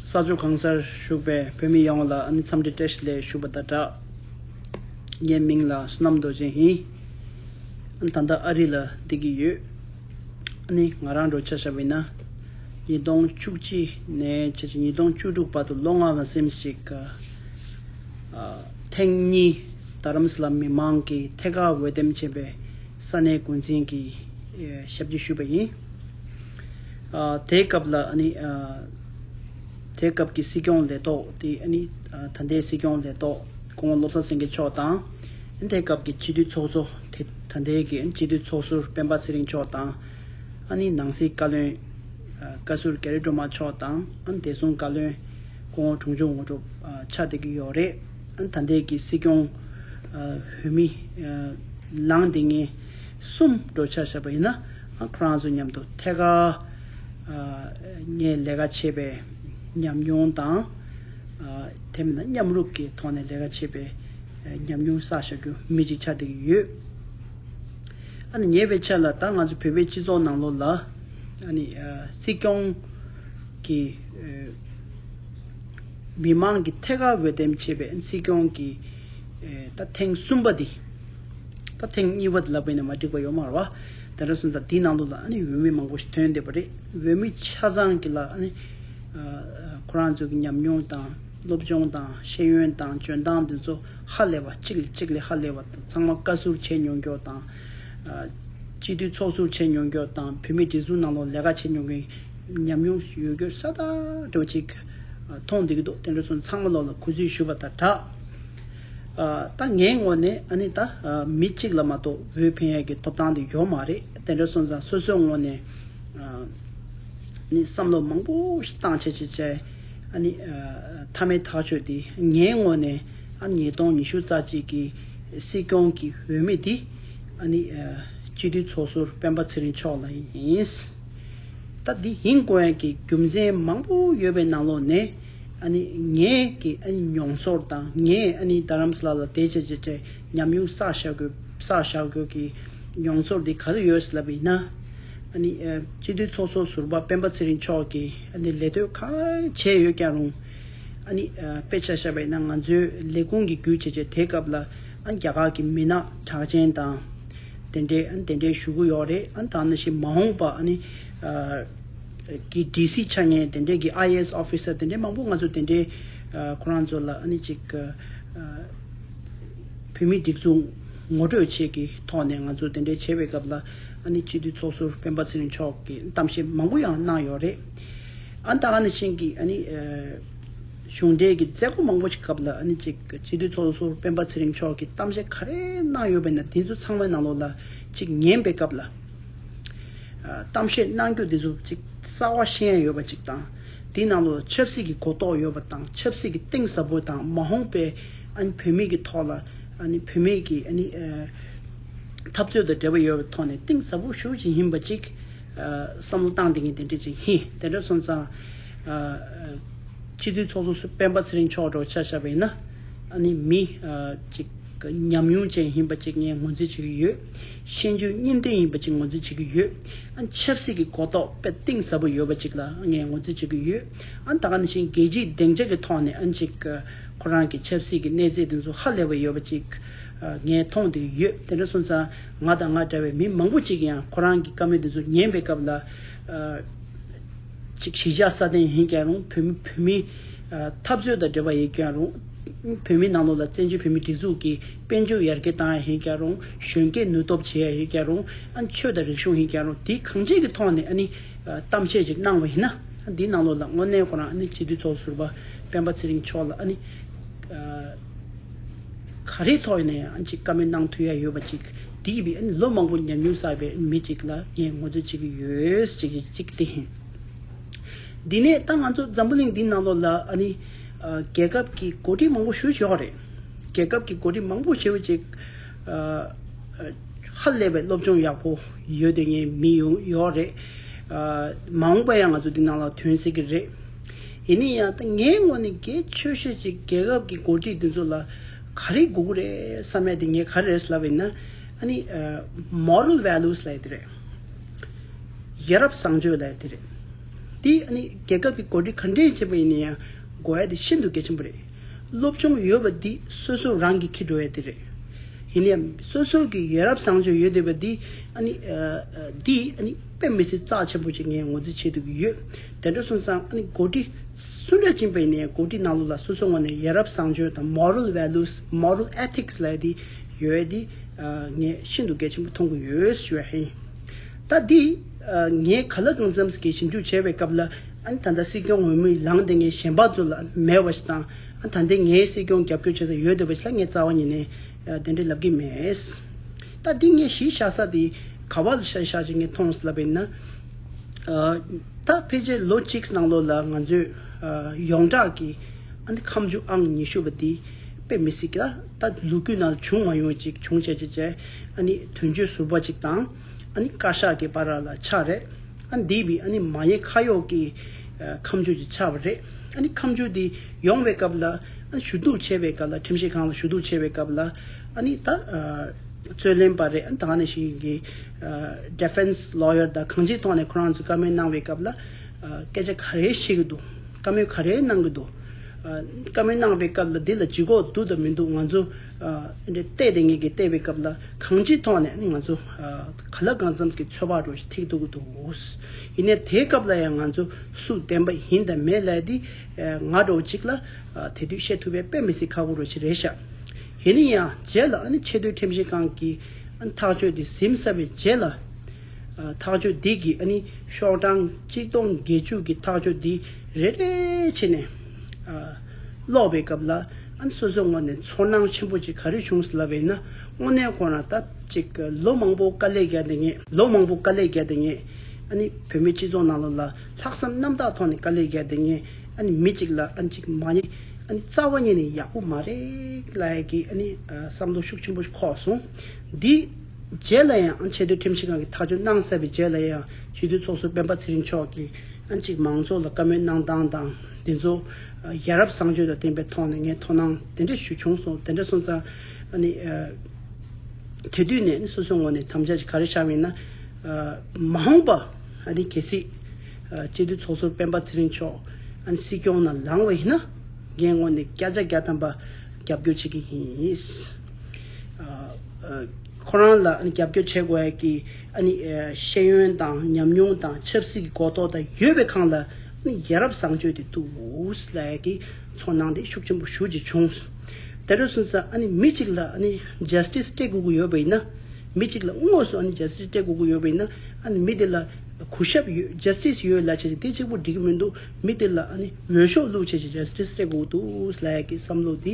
ས་ཕྱོགས་གང་སར་བཞུགས་པའི་བོད་མི་ཡོངས་ལ་ཨ་ནི་འཚམས་འདྲི་བཀྲ་ཤིས་ལེགས་ཞུ་བ་དང་སྦྲགས། ངའི་མིང་ལ་བསོད་ནམས་རྡོ་རྗེ་ཡིན། ཨ་ནི་ད་ལྟ་ཨ་རི་ལ་སྡོད་ཀྱི་ཡོད། ཨ་ནི་ང་རང་འགྲོ་འཆར་ཤར་བས་ན། ཉིས་སྟོང་བཅུ་གཅིག་ནས་ཕྱི་ཕྱི་ཉིས་སྟོང་བཅུ་དྲུག་བར་དུ་ལོ་ལྔ་བར་སེམས་ཤིག། ཐེངས་གཉིས་རྡ་རམ་ས་ལ་མི་མང་གིས་ཐད་ཀར་འོས་འདེམས་བྱས་པའི་ས་གནས་འགོ་འཛིན་གྱི་ཞབས་ཀྱིས་ཞུས་པ་ཡིན། དེའི་སྐབས་ལ་ནི། དེའི་སྐབས་ཀྱི་སྲིད་སྐྱོང་ལས་ཐོག་དེ་ནི། ད་ལྟའི་སྲིད་སྐྱོང་ལས་ཐོག་དགུང་ལོ་ལོ་ཙཱ་སེང་གེ་མཆོག་དང། དེའི་སྐབས་ཀྱི་སྤྱི་འཐུས་ཚོགས་གཙོ་དེ་ད་ལྟའི་གི་སྤྱི་འཐུས་ཚོགས་ཟུར་སྤེན་པ་ཚེ་རིང་མཆོག་དང། ནི་ནང་སྲིད་བཀའ་བློན། བཀའ་ཟུར་གྷ་རི་སྒྲོལ་མ་མཆོག་དང། བདེ་སྲུང་བཀའ་བློན། སྐུ་ངོ་དྲུང་ཆུང་ངོ་གྲུབ་ཆགས་བསྡད་ཀྱི་ཡོད་རེད། ད་ལྟའི་གི་སྲིད་སྐྱོང། བོད་མི། ལངས་དེ་ངེས། གསུམ་འགྲོ་ཆ་བཞག་པ་ཡིན་ན། ཁོ་རང་ཚོ་མཉམ་དུ་ཐད་ཀར་ངས་ལས་ཀ་བྱས་པའི་ཉམས་མྱོང་དང། དེ་མིན་ན་མཉམ་རུབ་ཀྱི་ཐོག་ནས་ལས་ཀ་བྱས་པའི་ཉམས་མྱོང་བསགས་བཞག་རྒྱུ་མི་གཅིག་ཆ་བསྡད་ཀྱི་ཡོད། ཉེ་བའི་ཆ་ལ་ད་ང་ཚོ་བོད་པའི་སྤྱི་ཚོགས་ནང་ལོགས་ལ་སྲིད་སྐྱོང་གི་མི་མང་གི་ཐད་ཀར་འོས་འདེམས་བྱས་པའི་སྲིད་སྐྱོང་གི་ཐེངས་གསུམ་པ་འདི། ད་ཐེངས་གཉིས་པ་དེ་ལ་བས་ནས་མ་འགྲིག་པ་ཡོད་མར་བ། དེ་འདྲ་སོང་ཙང་དེའི་ནང་དུ་ལ་ཨ་ནི་འོས་མི་མང་པོ་ཞིག་ཐོན་བསྡད་པ་རེད། འོས་མི་ཆ་ཚང་གི་ལ་ཨ་ནི། ཁོ་རང་ཚོའི་གི་ཉམས་མྱོང་དང་སློབ་སྦྱོང་དང་ཤེས་ཡོན་དང་འཇོན་ཐང་དེ་ཚོ་ཧ་ལས་པ་གཅིག་ལས་གཅིག་ལས་ཧ་ལས་པ་དང་ཚང་མ་བཀའ་ཟུར་བྱས་མྱོང་མགྱོགས་དང། སྤྱི་འཐུས་ཚོགས་ཟུར་བྱས་མྱོང་མགྱོགས་དང་བུད་མེད་སྒྲིག་འཛུགས་ནང་ལོག་ལས་ཀ་བྱས་མྱོང་མཁན་ཉམས་མྱོང་ཡོད་རྒུ་ས་ད་རེ་བ་ཅིག་མཐོང་བསྡད་ཀྱི་འདུག་དེ་འདྲ་སོང་ཚང་མ་ལོག་ལ་གུས་བརྩི་ཞུ་བ་དང་སྦྲགས། ད་ངའི་ངོ་ནས་ཨ་ནི་ད་མི་གཅིག་ལ་མ་གཏོགས་བོད་ཕན་ཡོད་ཀྱི་ཐོབ་ཐང་དེ་ཡོད་མ་རེད་དེ་འདྲ་སོང་ཙང་སོ་སོའི་ངོ་ནས་ནི་བསམ་བློ་མང་པོ་ཞིག་བཏང་བྱས་བྱས་བྱས་ཨ་ནི་མཐའ་མའི་ཐག་གཅོད་དེ་ངའི་ངོ་ནས་ཨ་ནི་ཉིས་སྟོང་ཉི་ཤུ་རྩ་གཅིག་གི་སྲིད་སྐྱོང་གི་འོས་མི་དེ་ཨ་ནི་སྤྱི་འཐུས་ཚོགས་ཟུར་སྤེན་པ་ཚེ་རིང་མཆོག་ལ་ཡིན། ད་འདི་ཡིན་དགོས་ཡན་གྱི་རྒྱུ་མཚན་མང་པོ་ཡོད་པའི་ནང་ལོགས་ནས། ངས་ཀྱི་མྱོང་ཚོར་དང་ངས་རྡ་རམ་ས་ལ་ལ་དེ་བྱས་དེ་བྱས་ཉམས་མྱོང་བསགས་བཞག་དགོས་བསགས་བཞག་དགོས་ཀྱི་མྱོང་ཚོར་དེ་ག་དུས་ཡོད་ཟེར་ལབ་ཡིན་ན། སྤྱི་འཐུས་ཚོགས་གཙོ་ཟུར་པ་སྤེན་པ་ཚེ་རིང་མཆོག་གིས་ལས་དོན་ག་བྱས་ཡོད་ཀྱང་རུང། དཔེ་ཆ་ཤ་བས་ན་ང་ཚོའི་ལས་ཁུངས་ཀྱི་རྒྱུ་བྱས་བྱས་དེ་སྐབས་ལ་རྒྱ་གར་གྱི་མི་ནག་གྲགས་ཅན་དང་དེ་འདྲས་དེ་འདྲས་བཞུགས་ཀྱི་ཡོད་རེད་ད་ནང་བཞིན་མ་འོངས་པ། གི DC ཆ་ངས་དེ་འདྲས་ཀྱི IAS Officer དེ་འདྲས་མང་པོ་ང་ཚོ་དེ་འདྲས་ཁོ་རང་ཚོ་ལ་ཨ་ནི་ཅིག་བོད་མི་སྒྲིག་འཛུགས་ངོ་སྤྲོད་བྱེད་ཀྱི་ཐོག་ནས་ང་ཚོ་དེ་འདྲས་བྱེད་པའི་སྐབས་ལ་ཨ་ནི་སྤྱི་འཐུས་ཚོགས་ཟུར་སྤེན་པ་ཚེ་རིང་མཆོག་གིས་གཏམ་བཤད་མང་པོ་ཡང་གནང་ཡོད་རེད། ཨ་ད་ཨ་ནི་ཆིང་གིས་ཨ་ནི་གཞུང་འབྲེལ་གྱི་མཛད་སྒོ་མང་པོ་ཞིག་སྐབས་ལ་ཨ་ནི་ཅིག་སྤྱི་འཐུས་ཚོགས་ཟུར་སྤེན་པ་ཚེ་རིང་མཆོག་གིས་གཏམ་བཤད་ག་རེ་གནང་ཡོད་པས་ན་དེ་ཚོ་ཚང་མའི་ནང་ལོགས་ལ་ཅིག་ཉན་པའི་སྐབས་ལ། གཏམ་བཤད་གནང་རྒྱུ་འདི་ཚོ་གཅིག་རྩ་བ་ཤན་ཡོད་པ་ཅིག་དང། དེའི་ནང་དུ་ཆབ་སྲིད་ཀྱི་གོ་རྟོགས་ཡོད་པ་དང་ཆབ་སྲིད་ཀྱི་གཏིང་ཟབ་པོ་དང་མ་འོངས་པའི་བོད་མིའི་གི་ཐོག་ལ་བོད་མིའི་གི་འཐབ་རྩོད་དང་འབྲེལ་བ་ཡོད་པའི་ཐོག་ནས་གཏིང་ཟབ་པོ་ཞུ་བཞིན་ཡིན་པ་ཅིག་བསམ་བློ་བཏང་དེ་ཉིད་དེ་འདྲ་ཅིག་ཡིན། དེ་འདྲ་སོང་ཙང། སྤྱི་འཐུས་ཚོགས་གཙོ་སྤེན་པ་ཚེ་རིང་མཆོག་འགྲོ་འཆར་བཞག་པ་ཡིན་ན། མི་ཅིག་ཉམས་མྱོང་ཅན་ཡིན་པ་ཅིག་ངས་ངོས་འཛིན་བྱེད་ཀྱི་ཡོད། ཤེས་འཇོན་གཉིས་ལྡན་ཡིན་པ་ཅིག་ངོས་འཛིན་བྱེད་ཀྱི་ཡོད། ཆབ་སྲིད་ཀྱི་གོ་རྟོགས་དཔེ་གཏིང་ཟབ་པོ་ཡོད་པ་ཅིག་ལ་ངས་ངོས་འཛིན་བྱེད་ཀྱི་ཡོད། ད་ག་ནས་བཞིན་རྒྱལ་སྤྱིའི་བདེ་འཇགས་ཀྱི་ཐོག་ནས་ཅིག་ཁོ་རང་གི་ཆབ་སྲིད་ཀྱི་གནས་ཚད་དེ་ཚོ་ཧ་ལས་པ་ཡོད་པ་ཅིག་ངས་མཐོང་དེ་ཡོད། དེ་འདྲ་སོང་ཙང་ང་དང་ང་འདྲ་བའི་མི་མང་པོ་ཅིག་གིས་ཡང་ཁོ་རང་གི་བཀའ་མོལ་དེ་ཚོ་ཉན་པའི་སྐབས་ལ། ཅིག་གཞིས་ཆགས་སྲ་བརྟན་ཡིན་ཀྱང་རུང་བོད་མི་བོད་མིའི་འཐབ་རྩོད་དང་འབྲེལ་བ་ཡོད་ཀྱང་རུང། བོད་མིའི་ནང་ལོགས་ལ་བཙན་བྱོལ་བོད་མིའི་སྒྲིག་འཛུགས་ཀྱི། དཔལ་འབྱོར་ཡར་རྒྱས་བཏང་ཡ་ཧེ་རྒྱག་རུང། གཞོན་སྐྱེས་ནུས་སྟོབས་བྱེད་ཡ་ཧེ་རྒྱག་རུང། ཆོས་དང་རིག་གཞུང་ཧེ་རྒྱག་རུང་དེ་གང་ཅིའི་ཐོག་ནས་གཏམ་བཤད་ཅིག་གནང་བ་ཡིན་ན། དེའི་ནང་ལོགས་ལ་དངོས་གནས་ཁོ་རང་སྤྱི་འཐུས་ཚོགས་ཟུར་པདྨ་ཚེ་རིང་མཆོག་ལ་ག་རེའི་ཐོག་ནས་ཡང་ཅིག་བཀའ་མོལ་གནང་ཐུབ་ཡ་ཡོད་པ་ཅིག་དེ་ཡིན་པས་ལོ་མང་པོ་ཉམས་མྱོང་བསགས་པའི་མི་ཅིག་ལ་ངས་ངོ་སྤྲོད་བྱེད་ཀྱི་ཡོད་ཅེས་བཤད་ཅིག་དེ་ཡིན། དེ་ནས་ད་ང་ཚོ་འཛམ་བུ་གླིང་འདིའི་ནང་ལོགས་ལ་རྒྱལ་ཁབ་ཀྱི་གོ་སྒྲིག་མང་པོ་ཞུ་ཆོག་གི་རེད། རྒྱལ་ཁབ་ཀྱི་གོ་སྒྲིག་མང་པོ་ཞེས་པ་ཅིག་ཧ་ལས་པའི་སློབ་སྦྱོང་ཡག་པོ་ཡོད་དེ་ངས་མི་ཡོང་ཡོག་རེད། མ་འོངས་པ་ཡང་ང་ཚོ་འདི་ནང་ལ་ཐོན་སྲིད་ཀྱི་རེད། ཡིན་ནི་ཡང་ད་ངའི་ངོ་ནས་གལ་ཆོས་ཤེས་ཅིག་རྒྱལ་ཁབ་ཀྱི་གོ་སྒྲིག་འདི་ཚོ་ལ་ག་རེ་དགོས་ཀྱི་རེད་བསམ་ཡ་དེ་ངས་ག་རེ་རེད་ཟེར་ལབ་ཡིན་ན་ཨ་ནི Moral Values ལ་ཡ་དེ་རེད། ཡ་རབས་བཟང་སྤྱོད་ལ་ཡ་དེ་རེད། དེ་ཨ་ནི་རྒྱལ་ཁབ་ཀྱི་གོ་སྒྲིག་ག་འདྲས་བྱེད་པ་ཡིན་ན་ཡང་དགོས་ཡ་དེ་ཤིན་ཏུ་གལ་ཆེན་པོ་རེད། སློབ་སྦྱོང་ཡོད་པ་འདི་སོ་སོ་རང་གིས་འཁྱེར་འགྲོ་ཡ་དེ་རེད། ཡིན་ན་ཡང་སོ་སོ་གི་ཡ་རབས་བཟང་སྤྱོད་ཡོད་དེ་བ་འདི་ཨ་ནི་འདི་ཨ་ནི་དཔེ་མི་སྲིད་རྩ་ཆེན་པོ་ཅིག་ངས་ངོ་རྫི་བྱེད་འདོད་ཀྱི་ཡོད། དེ་འདྲ་སོང་ཙང་ཨ་ནི་གོ་སྒྲིག་སུ་འདྲ་བྱིན་པ་ཡིན་ན་ཡང་གོ་སྒྲིག་ནང་ལུགས་ལ་སོ་སོ་ངོ་ནས་ཡ་རབས་བཟང་སྤྱོད་དང Moral Values Moral Ethics ལ་ཡ་འདི་ཡོད་ཡ་འདི་ངས་ཤིན་ཏུ་གལ་ཆེན་པོ་མཐོང་གི་ཡོད་ཞུ་བ་ཡིན། ད་འདི་ངས་ག་ལ་གང་འཚམས་ཀྱིས་ཞིབ་འཇུག་བྱས་པའི་སྐབས་ལ། ད་ལྟ་སྲིད་སྐྱོང་འོས་མི་ལངས་ཏེ་ངས་གཞན་ཕག་ཚོ་ལ་མེད་བ་ཞིག་དང། ད་ལྟའི་ངའི་སྲིད་སྐྱོང་རྒྱབ་སྐྱོར་བྱེད་ས་ཡོད་འདོད་པ་ཞིག་ལ་ངས་རྩ་བ་ཉིད་ནས་དེ་འདྲའི་ལབ་ཀྱི་མེད། ད་འདི་ངས་གཞིས་བཞག་ས་དེ་ག་བ་ལ་གཞིས་བཞག་ཅིག་ངས་མཐོང་ལབ་པའི་ན། ད་ཕལ་ཆེར་ལོ་གཅིག་ནང་ལོ་ལ་ང་ཚོས་ཡོངས་གྲགས་ཀྱིས་ཁམས་བཅུ་ཨང་ཉི་ཤུ་བ་འདི་དཔེ་མི་སྲིད་ཀྱི། ད་ལུག་ཁྱུ་ནང་བྱུང་མ་ཡོང་ཅིག་བྱུང་བྱས་བྱས་བྱས་དོན་གཅོད་ཟུར་བ་ཅིག་དང། ཨ་ནི་བཀའ་ཤག་གི་པ་ར་ལ་ཆགས་རེད། ཨ་འདི་བི་ཨ་ནི་མ་ཡེ་ཁ་ཡོག་གི་ཁམས་ཆུ་ཆི་ཆགས་པ་རེད། ཨ་ནི་ཁམས་ཆུ་འདི་ཡོང་བའི་སྐབས་ལ་ཨ་ནི་ཞུ་གཏུག་བྱས་པའི་སྐབས་ལ་ཁྲིམས་ཞིབ་ཁང་ལ་ཞུ་གཏུག་བྱས་པའི་སྐབས་ལ་ཨ་ནི་ད་རྩོད་ལན་པ་རེད་ཨ་ནི་ད་ག་ནས་ཞིག་ཡིན་གི Defense Lawyer ད་གང་ཅིའི་ཐོག་ནས་ཁོ་རང་ཚོས་བཀའ་མོལ་གནང་བའི་སྐབས་ལ་སྐད་ཆ་ག་རེ་བཤད་གི་འདུག་བཀའ་མོལ་ག་རེ་གནང་གི་འདུག་བཀའ་མོལ་གནང་བའི་སྐབས་ལ་འདི་ལ་ཇི་གོ་འདུག་དང་མི་འདུག་ང་ཚོ། འདི་ལྟས་དེ་ངེད་ཀྱིས་བལྟས་པའི་སྐབས་ལ་གང་ཅིའི་ཐོག་ནས་ང་ཚོ་ག་ལ་གང་འཚམས་ཀྱི་ཚོད་དཔག་རུ་ཐིག་འདུག་འདུག་ཡིན་ནའི་དེའི་སྐབས་ལ་ཡང་ང་ཚོ་སུ་བདེན་པ་ཡིན་དང་མེད་ལས་འདི་ང་འགྲོ་བ་ཅིག་ལ་དེ་དུས་བཤད་ཐུབ་པའི་དཔེ་མི་སྲིད་ཁག་པོ་རུ་ཞིག་རེད་ཤག་ཡིན་ནའི་ཡང་རྗེས་ལ་ཆེས་མཐོའི་ཁྲིམས་ཞིབ་ཁང་གི་ཐག་གཅོད་དེ་ཟིན་ཚར་བའི་རྗེས་ལ་ཐག་གཅོད་འདི་གི་ཤོག་གྲངས་གཅིག་སྟོང་བརྒྱད་ཅུ་གི་ཐག་གཅོད་འདི་རེ་རེ་བྱས་ནས། ཀློག་པའི་སྐབས་ལ་སོ་སོའི་ངོ་ནས་ཚོར་སྣང་ཆེན་པོ་ཅིག་ག་རེ་བྱུང་སླ་བས་ན་དངོས་གནས་ཁོ་རང་ལྟབ་ཅིག་ལོ་མང་པོ་དཀའ་ལས་བརྒྱབ་ནས་ལོ་མང་པོ་དཀའ་ལས་བརྒྱབ་ནས་བོད་མི་སྤྱི་ཚོགས་ནང་ལོགས་ལ་ལྷག་བསམ་རྣམ་དག་ཐོག་ནས་དཀའ་ལས་བརྒྱབ་ནས་མི་ཅིག་ལ་ཅིག་མ་ཉེས་རྩ་བ་ཉིད་ནས་ཡག་པོ་མ་རེད་ལ་ཡག་གི་བསམ་བློ་ཤུགས་ཆེན་པོ་ཞིག་ཁོག་སོང་འདི། རྗེས་ལ་ཡང་ཆེས་མཐོའི་ཁྲིམས་ཞིབ་ཁང་གིས་ཐག་གཅོད་གནང་གསལ་བའི་རྗེས་ལ་ཡང་ཇུས་འདོན་ཚོགས་གཙོ་སྤེན་པ་ཚེ་རིང་མཆོག་གིས་ཨ་ཅིག་མང་ཚོགས་ལ་བཀའ་མོལ་གནང་སྟངས་དང་འདི་ཚོ་ཡ་རབས་བཟང་སྤྱོད་དང་བསྟན་པའི་ཐོག་ནས་ངས་དོ་སྣང་དེ་འདྲ་ཞུ་བྱུང་སོང་དེ་འདྲ་སོང་ཙང་ནི་དེ་དུས་ནས་ནི་སོ་སོའི་ངོ་ནས་དམ་བཅའ་ཞིག་ག་རེ་བཞག་མིན་ན་མ་འོངས་པ་ནི་གལ་སྲིད་སྤྱི་འཐུས་ཚོགས་གཙོ་སྤེན་པ་ཚེ་རིང་མཆོག་སྲིད་སྐྱོང་ནང་ལངས་བ་ཡིན་ན་ངས་ངོ་ནས་བསྐྱར་ཆ་བརྒྱ་ཐམ་པ་རྒྱབ་སྐྱོར་བྱེད་ཀྱི་ཡིན། ཁོ་རང་ལ་རྒྱབ་སྐྱོར་བྱེད་དགོས་ཀྱི་ཤེས་ཡོན་དང་ཉམས་མྱོང་དང་ཆབ་སྲིད་ཀྱི་གོ་རྟོགས་དང་ཡོད་པའི་ཁང་ལ་ཡ་རབས་བཟང་སྤྱོད་དེ་འདུག་ལས་ཀྱི་ཚོར་སྣང་དེ་ཤུགས་ཆེན་པོ་ཞུ་རྒྱུ་བྱུང། དེ་འདྲ་སོང་ཙང་མི་གཅིག་ལ Justice སྤྲད་དགོས་ཀྱི་ཡོད་པ་ཡིན་ན། མི་གཅིག་ལ་དངོས་སུ Justice སྤྲད་དགོས་ཀྱི་ཡོད་པ་ཡིན་ན། མི་དེ་ལ་གུས་ཞབས་ཡོད Justice ཡོད་ལ་བྱས་ཀྱི་དེ་གཅིག་པོ་འགྲིག་གི་མི་འདུག་མི་དེ་ལ་འོས་ཤོག་བླུགས་བྱས་ཀྱི Justice སྤྲད་དགོས་ཀྱི་འདུག་ལས་ཀྱི་བསམ་བློ་དེ་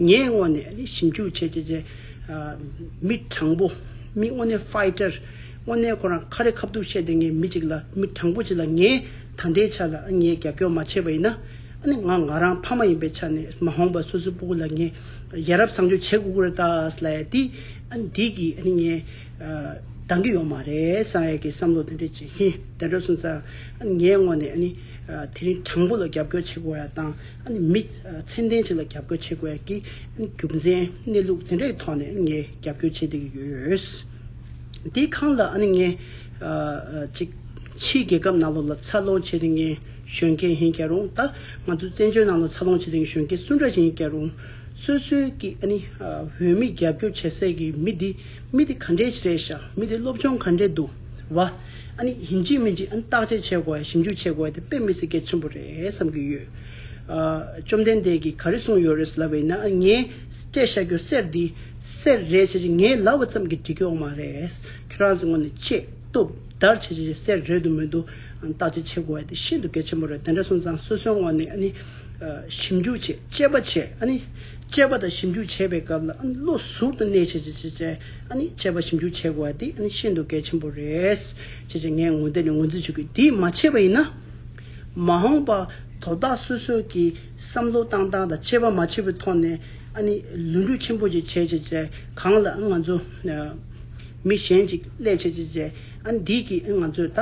ངའི་སྔོན་ནས་ནི་ཞིབ་འཇུག་བྱེད་བྱེད་བྱེད། མི་དྲང་པོ། མི་དངོས་གནས Fighter། དངོས་གནས་ཁོ་རང་ཁ་རི་ཁ་བརྡུགས་བཤད་དེ་ངས་མི་གཅིག་ལ་མི་དྲང་པོ་བྱེད་ལ་ངས་ད་ལྟའི་ཆ་ལ་ངས་རྒྱབ་སྐྱོར་མ་བྱས་པ་ཡིན་ན་ནི་ང་ང་རང་ཕ་མ་ཡིན་པའི་ཆ་ནས་མ་འོངས་པ་སོ་སོའི་སྤུ་གུ་ལ་ངས་ཡ་རབས་བཟང་སྤྱོད་བྱེད་དགོས་ཀྱི་རེད་ད་སླ་ཡ་དེ་འདི་གི་ནི་ངས་འདང་གི་ཡོད་མ་རེད་སང་ཡ་གི་བསམ་བློ་དེ་འདྲས་བྱེད་ཧི་དེ་འདྲ་སོང་ཙང་ངའི་སྔོན་ནས་ནི་དེ་རིང་དྲང་པོ་ལ་རྒྱབ་སྐྱོར་བྱེད་དགོས་ཡ་དང་ནི་མི། ཚད་ལྡན་བཅས་ལ་རྒྱབ་སྐྱོར་བྱེད་དགོས་ཀྱི་རྒྱུ་མཚན་གནས་ལུགས་དེ་འདྲའི་ཐོག་ནས་ངས་རྒྱབ་སྐྱོར་བྱེད་བསྡད་ཀྱི་ཡོད། དེའི་ཁང་ལ་ཨ་ནེ་ངས། ཅིག། ཕྱིའི་རྒྱལ་ཁབ་ནང་ལོགས་ལ་འཚར་ལོངས་བྱས་ཏེ་ངའི་གཞོན་སྐྱེས་ཡིན་ཀྱང་རུང་ད། ང་ཚོའི་བཙན་བྱོལ་ནང་ལོགས་འཚར་ལོངས་བྱས་ཏེ་གཞོན་སྐྱེས་སུ་འདྲ་ཞིག་ཡིན་ཀྱང་རུང། སོ་སོའི་ཀྱི་ཨ་ནེ། བོད་མི་རྒྱབ་སྐྱོར་བྱེད་སའི་ཀྱི་མི་དེ། མི་དེ་ག་འདྲའི་ཞིག་རེད་ཞག་མི་དེ་སློབ་སྦྱོང་ག་འདྲའི་འདུག་བ། ཨ་ནེ། ཡིན་གཅིག་མིན་གཅིག་ཨ་ནེ་བརྟག་དཔྱད་བྱེད་དགོས་ཡ་ཞིབ་འཇུག་བྱེད་དགོས་ཡ་དེ་དཔེ་མི་སྲིད་གལ་ཆེན་པོ་རེད་བསམ་གྱི་ཡོད། བཅོམ་ལྡན་འདས་ཀྱིས་ག་རེ་གསུངས་ཡོད་རེད་ལབ་པས་ན་ངས་སྐད་བཤད་རྒྱུ་གསེར་འདི་གསེར་རེད་བྱས་རྗེས་ངས་ལབ་བ་ཙམ་གྱིས་འགྲིག་གི་ཨོ་མ་རེད། ཁྱོད་རང་ཚོས་ངོ་ནས་ཆེད་བཏུབ་བརྡར་བྱས་རྗེས་གསེར་རེད་འདུག་མི་འདུག་བརྟག་དཔྱད་བྱེད་དགོས་དེ་ཤིན་ཏུ་གལ་ཆེན་པོ་རེད་དེ་འདྲ་གསུངས་ཙང་སོ་སོའི་ངོ་ནས་ཞིབ་འཇུག་བྱས་དཔྱད་པ་བྱས་དཔྱད་པ་དང་ཞིབ་འཇུག་བྱེད་པའི་སྐབས་ལ་བློ་ཟུར་དུ་གནས་བྱས་རྗེས་དཔྱད་པ་ཞིབ་འཇུག་བྱེད་དགོས་དེ་ཤིན་ཏུ་གལ་ཆེན་པོ་རེད། བྱས་རྗེས་ངས་ངོ་དེ་ནས་ངོས་འཛིན་བྱེད་དགོས་དེ་མ་བྱས་པ་ཡིན་ན། མ་འོངས་པ་དོ་བདག་སོ་སོས་ཀྱི་བསམ་བློ་བཏང་སྟངས་དང་ཆད་པ་མ་ཆད་པའི་ཐོག་ནས་ཨ་ནི་ལུས་འགྲུས་ཆེན་པོ་ཅིག་བྱེད་ཅིག་ཅེས་གང་ལ་ང་ཚོ་མི་གཞན་ཅིག་སླད་བྱེད་ཅིག་ཅེས་ཨ་ནི་འདིས་ཀྱིས་ང་ཚོས་ད་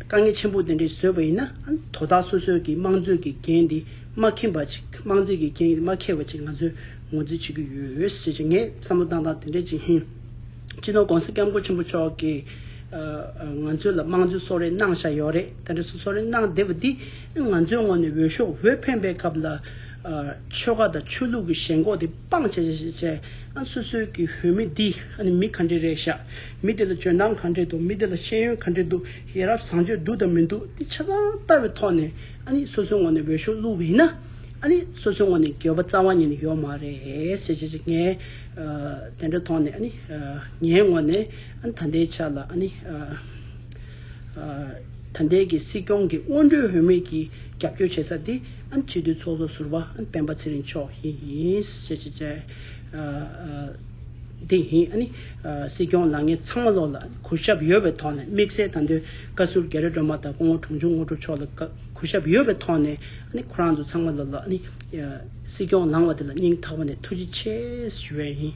དཀའ་ངལ་ཆེན་པོ་དེ་འདྲ་ཞིག་བཟོས་པ་ཡིན་ན་ཨ་ནི་དོ་བདག་སོ་སོས་ཀྱི་དམངས་གཙོས་ཀྱི་འགན་འདི་མ་ཁེངས་པ་ཅིག་དམངས་གཙོས་ཀྱི་འགན་འདི་མ་ཁེངས་པ་ཅིག་ང་ཚོས་ངོས་འཛིན་བྱེད་ཀྱི་ཡོད་ཅེས་ངས་བསམ་བློ་བཏང་སྟངས་དེ་འདྲ་ཅིག་ཡིན། སྤྱི་ནོར ྋགོང་ས ྋསྐྱབས་མགོན་ཆེན་པོ་མཆོག་གིས་ང་ཚོའི་ལ་དམངས་གཙོའི་གསོལ་རས་གནང་བཞག་ཡོད་རེད་ད་འདྲ་སུ་གསོལ་རས་གནང་བསྡད་པ་འདི་ང་ཚོའི་ངོ་ནས་འོས་ཤོག་འོས་འཕེན་པའི་སྐབས་ལ་ཆོལ་ཁ་དང་ཆོས་ལུགས་ཀྱི་ཞེན་ཁོག་དེ་སྤང་བྱས་བྱས་ཨ་སོ་སོའི་གི་བོད་མི་འདི་ཨ་ནི་མི་ག་འདྲེ་རེད་བཞག་མི་དེ་ལ་འཇོན་ཐང་ག་འདྲེ་འདུག་མི་དེ་ལ་ཤེས་ཡོན་ག་འདྲེ་འདུག་ཡ་རབས་བཟང་སྤྱོད་འདུག་དང་མི་འདུག་དེ་ཆ་ཚང་ལྟ་བའི་ཐོག་ནས་ཨ་ནི་སོ་སོའི་ངོ་ནས་འོས་ཤོག་བླུག་པ་ཡིན་ན་ཨ་ནི་སོ་སོའི་ངོ་ནས་འགྱོད་པ་རྩ་བ་ཉིད་ནས་ཡོད་མ་རེད་བྱས་བྱས་བྱས་ངས་དེ་འདྲ་ཐོག་ནས་ཨ་ནི་ངའི་ངོ་ནས། ཨ་ནི་ད་ལྟའི་ཆ་ལ་ཨ་ནི། ད་ལྟའི་གི་སྲིད་སྐྱོང་གི་སྔོན་འགྲོའི་འོས་མི་གི་རྒྱབ་སྐྱོར་བྱེད་ས་དེ་ཨ་ནི་སྤྱི་འཐུས་ཚོགས་གཙོ་ཟུར་བ་ཨ་ནི་སྤེན་པ་ཚེ་རིང་མཆོག་ཡིནདེ་ཡིན་ཨ་ནི། སྲིད་སྐྱོང་ལགས་ངས་ཚང་མ་ལོག་ལ་གུས་ཞབས་ཡོད་པའི་ཐོག་ནས་དམིགས་བསལ་ད་དོན་བཀའ་ཟུར་རྒྱལ་ར་སྒྲོལ་མ་དང་སྐུ་ངོ་དྲུང་ཆུང་ངོ་སྤྲོ་མཆོག་ལ་གུས་ཞབས་ཡོད་པའི་ཐོག་ནས་ཨ་ནི་ཁོ་རང་ཚོ་ཚང་མ་ལོག་ལ་ཨ་ནི། སྲིད་སྐྱོང་ལངས་བ་དེ་ལ་སྙིང་ཐག་པ་ནས་ཐུགས་རྗེ་ཆེ་ཞུ་བས་ཡིན།